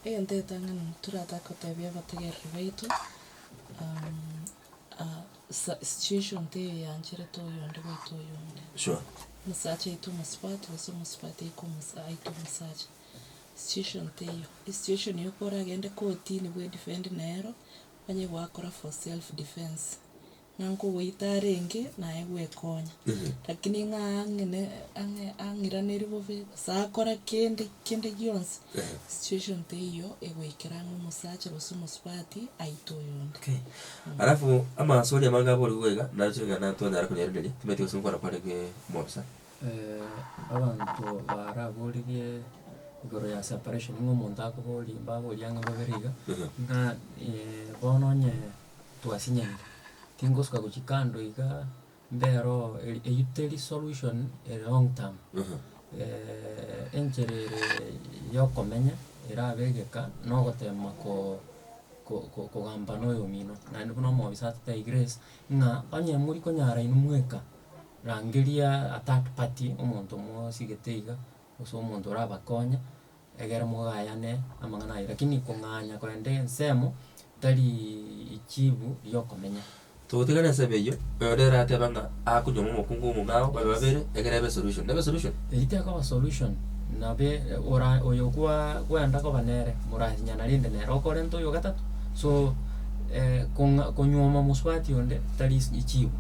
egento egetang'ani toratake kotebia abategereri baito, sa situation teiyo eyancharete oyonde goita oyonde. Sure. Omosacha aite omosubati gose omosubati aike omosa aite omosacha, situation teiyo. Esituation ya okwo oragende kotini bwedifendi nere, onye goakora for self defence. Ng'a nkogoita arenge, naye gwekonya. Rakini ng'a ang'ine, ang'e, ang'iraneri bobe, gose akora kende, kende gionsi, situation teiyo egoikera ng'a omosacha gose omosubati aite oyonde. Okay. Alafu amaso oria amange abore igwe iga, naro ching'ana twanyara konyerenderia, timanyeti gose gokora kware ge omobisa. Eh, abanto baraboririe igoro ya separation, ng'a omonto akoborie, mbaborie ang'e babere iga, ng'a bono onye. twasinyara. Tingosuka gochia kando iga, mbero eri eyio teri solution ere long term. enchera ere yokomenya erabe egeka, nogotema ko ko kogamba na oyomino. Naende buna omobisa atete I grace, ng'a onye mori konyara inwe mweka, rangeria a third party, omonto mosigete iga, gose omonto orabakonye. egere mogayane amang'ana ayio, rakini kong'anya korenta ensemo tariiiii chibu riokomenya. Togotigana ensemo eyio, oyore erateba ng'a akonywa ng'a omokungu omobe ao babe babere, egere ebe esolution. Nebe esolution? Eyio tekoba solution, nabe ora oyo kwaa kwenda koba nere morasinyana rende nere okorenta oyo ogatato, so kong'a konyuoma mosubati onde tari is chibu,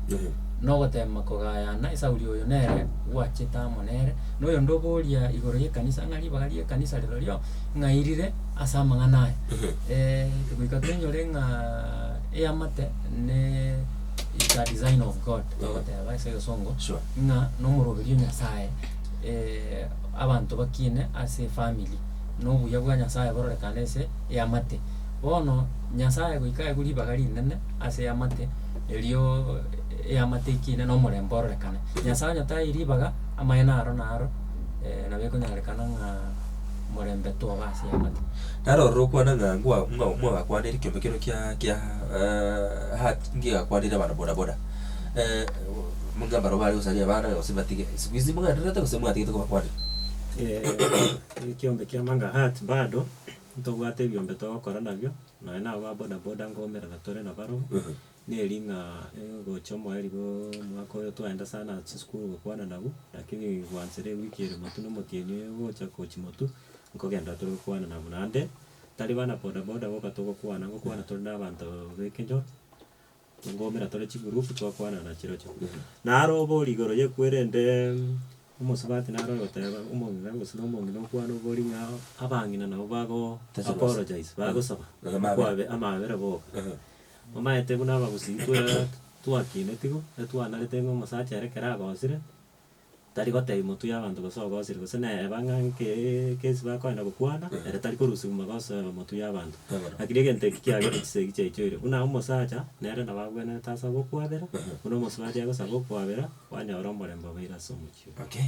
nogotema kogayana esauri oyo nere gwachete amo nere. noyonde oboria igoro y'ekanisa ng'a ribaga ri'ekanisa rirorio ng'ai rire ase amang'ana aya. goika twenyore ng'a eamate ne is a design of God togoteba ase egesongo Sure. ng'a nomoroberio Nyasaye abanto bakiine ase efamiri, na obuya bwa Nyasaye bororekane ase eamate. Bono Nyasaye goika aigwe ribaga rinene ase eamate, erio eamate ekiine na omorembe ororekane. Nyasaye onye taei ribaga. Amaene aro naro nabo ekonyarekana ng'a morembe toba ase y'amato. Naro ororo okwana ng'a ngwa ng'a mwagakwanire ekiombe kino kia kia hat ngigakwanire abana boda boda muna barobwo bare gosaria abana gose batige, siku hizi mwenderete gose mwatigete kobakwanera? Ekiombe kiamo anga hat bado, ntobwate ebiombe togokora nabio, nonya naba boda boda nkoumerana tore nabarobwo, Neri ng'a gocha omoeri bwa omwaka oyo twaenda sana chisukuru gokwana nabu, lakini gwanchera ewiki ere botun omotienyi oyo ogocha gochia motwe, nkogenda tore gokwana nabu. Naende, tari bana bodaboda boka togokwana, nkokwana tore na abanto b'ekenyoro, ngoumera tore chigroup twakwana na chirochio. Naro obori igoro ye kuo erende omosubati naro ogoteba omong'ina gose na omong'ina okwane obori ng'a abang'ina nabo bago apologize, bagosaba, bakwabe amabera boka. Omaete buna abagusii twere twakineti igo, etwanarete ng'a omosacha ere ekero agosire, tari gotebi motwe y'abanto gose ogosire gose naeba ng'a nke ekesi bakoenda gokwana, ere tari korusigwa magoso aya motwe y'abanto. Lakini egento eki kiagete chisa eki chiaichoire, buna omosacha nere nabo agwenerete ase obokwabera, buna omosacha agosaba okwabera, kwanyora omorembe obeire ase omochie oye. Okay.